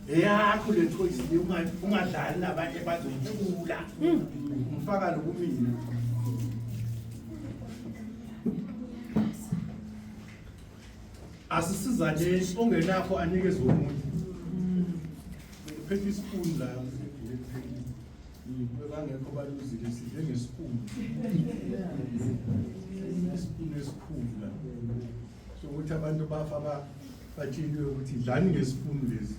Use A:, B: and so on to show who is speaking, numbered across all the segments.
A: eyakho le thoyisini ungadlali nabanye bazothula hmm. ngifaka lokumina asisizane ongenakho anikeze omunye phethe isipuni la bangekho baluzile sidle ngesipuni isipuni esikhulu la sokuthi abantu bafa batsheliwe ukuthi dlani ngesipunu lesi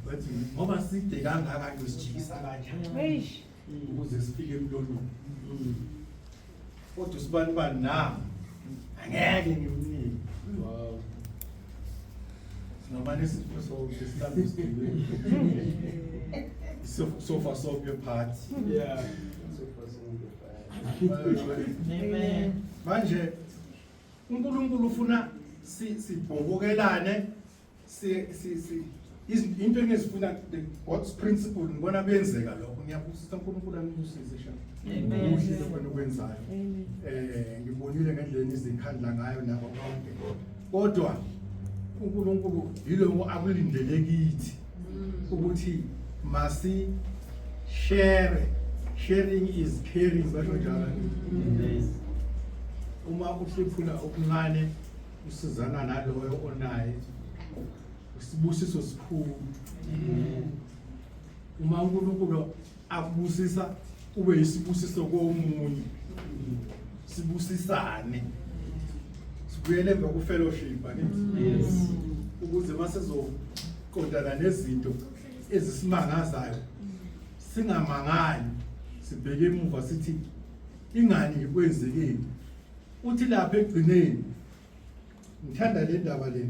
A: bathi ngoba side kangaka nje sijikisa kanjani ukuze sifike emlonyeni kodwa usibani bani na angeke ngimnike wow singamane sifo so sihlale sidile sofa sofa party yeah sofa sofa party amen manje uNkulunkulu ufuna sibhobokelane si si si into engizifuna the God's principle ngibona kuyenzeka lokho ngiyabusisa uNkulunkulu anibusise sha ubuhle lokho okwenzayo eh ngibonile ngendlela izikhandla ngayo nabo bonke kodwa uNkulunkulu yilowo akulindele kithi ukuthi masi share sharing is caring basho njalo uma uhlephula okuncane usizana naloyo onaye usibusiso sikhulu uma uNkulunkulu akubusisa kube yisibusiso komunye sibusisane sibuyele emva kufellowship yes ukuze masezoqondana nezinto ezisimangazayo singamangali sibheke emuva sithi ingani kwenzekeni uthi lapha egcineni ngithanda le ndaba le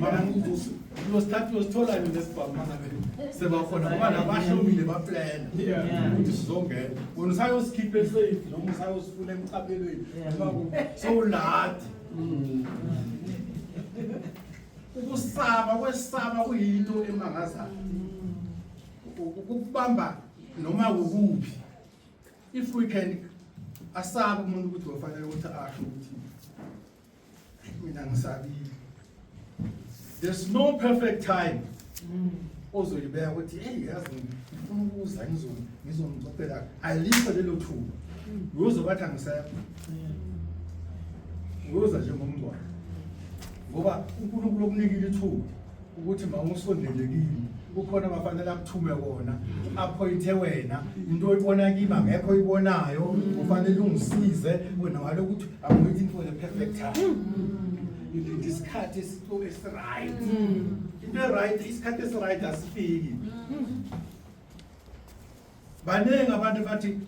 A: Mana nguvusi. Uyosikhathi uyosithola yini lesibhamu mana be. Sebakhona ngoba nabahlomile baplana. Ukuthi sizongena. Wena usayosikhipha esafe noma usayosifuna emqaphelweni. So uladi. Mm. Ukusaba kwesaba kuyinto emangazayo. Ukubamba noma ukuphi. If we can asaba umuntu ukuthi wafanele ukuthi asho ukuthi mina ngisabile there's no perfect time mm. ozoyibeka ukuthi hey yazi ngifuna ukuza ngizomcopela alikho lelo thuba uyoze bathi angisekho uyoza njengomngcwabo ngoba unkulunkulu okunikile ithuba ukuthi mawusondele kimi kukhona abafanele akuthume kona aphoyinthe wena into oyibona kimi angekho oyibonayo ufanele ungisize wena wale ukuthi i'm waiting for the perfect time isikhathi esiright into eright isikhathi esiright asifiki Baningi abantu bathi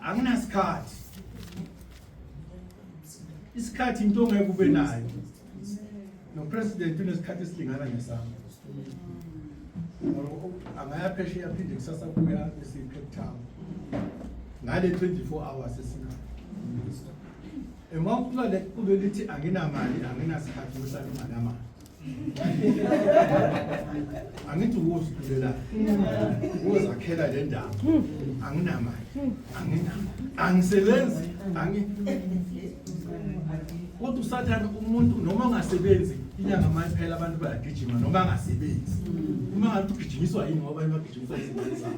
A: anginasikhathi. Isikhathi into ongeke ube nayo. No president unesikhathi esilingana nesami. Angaya phesheya phinde kusasa kuya eseCape Town. Ngale 24 hours esinayo. Uma uqala kulelithi anginamali anginasikhathi usalima namali. angithi ukuzibulela ukuzakhela le ndawo anginamali anginama angisebenzi angi kodwa usathane umuntu noma angasebenzi inyanga uma iphela abantu bayagijima noma angasebenzi uma ngathi ugijinyiswa yini ngoba abanye bagijinyiswa izingane zabo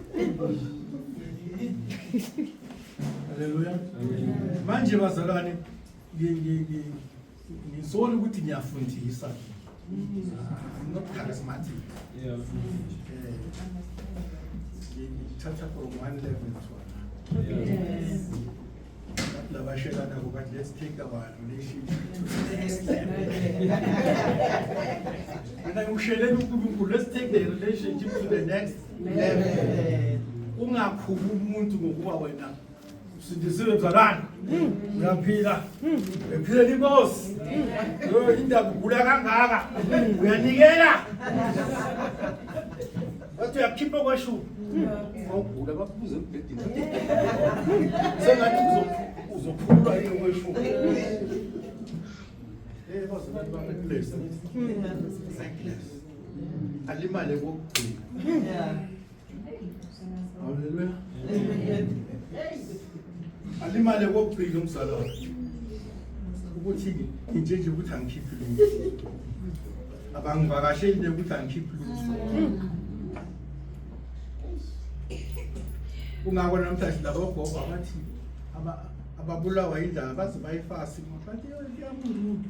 A: haleluya manje bazalwane Ngisole ukuthi ngiyafundisa. I'm not charismatic. Yeah. Ngithatha from one level to another. Yes. Labashelana ngoba let's take our relationship to the next level. Mina ngikushelela uNkulunkulu let's take the relationship to the next level. Ungakhulu umuntu ngokuba wena Sindisiwe mzalwane. Uyaphila. Ephile inkosi. Yo indaba ugula kangaka. Uyanikela. Wathi uyakhipha kwashu. Awugula bakubuze embedeni. Sengathi uzophulwa yini kwashu. Eh boss baba bless. Alimale kokugcina. Haleluya. Alimale kokugcina umzala wakhe. Ukuthi nje nje ukuthi angikhiphi lutho. Abangivakasheli nje ukuthi angikhiphi lutho. Kungako namhlanje labo gogo abathi ababulawa indaba baze bayifasi bathi yamuntu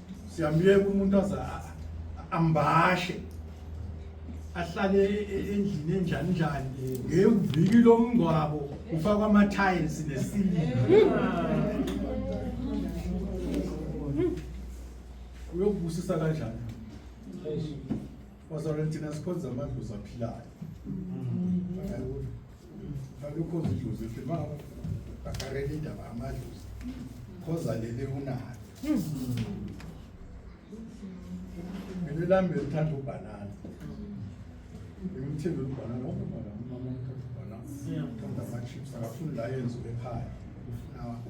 A: siyamyeka umuntu aze ambashe ahlale e-, e-, endlini enjani njani ngeviki lomngcwabo ufakwa ama-tiles nesiliva uyokubusisa kanjani Bazalwane thina sikhonza amadlozi aphilayo. Hayibo. Akukho idlozi futhi ma akarele indaba amadlozi. Khoza lele unayo. Mina lami ngithanda ubhanana. Ngimthanda ubhanana wonke mama mama ngithanda ubhanana. Ngithanda ama chips akafuni la yenziwe ekhaya. Ufuna wakho.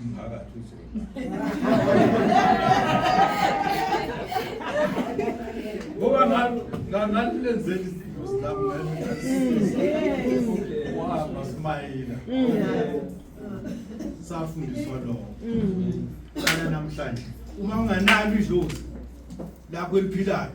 A: umphakathi uzoba ngoba ngalilenzela izinto silamuhamba simayela safundiswa lokho namhlanje uma unganalo idlozi lakho eliphilayo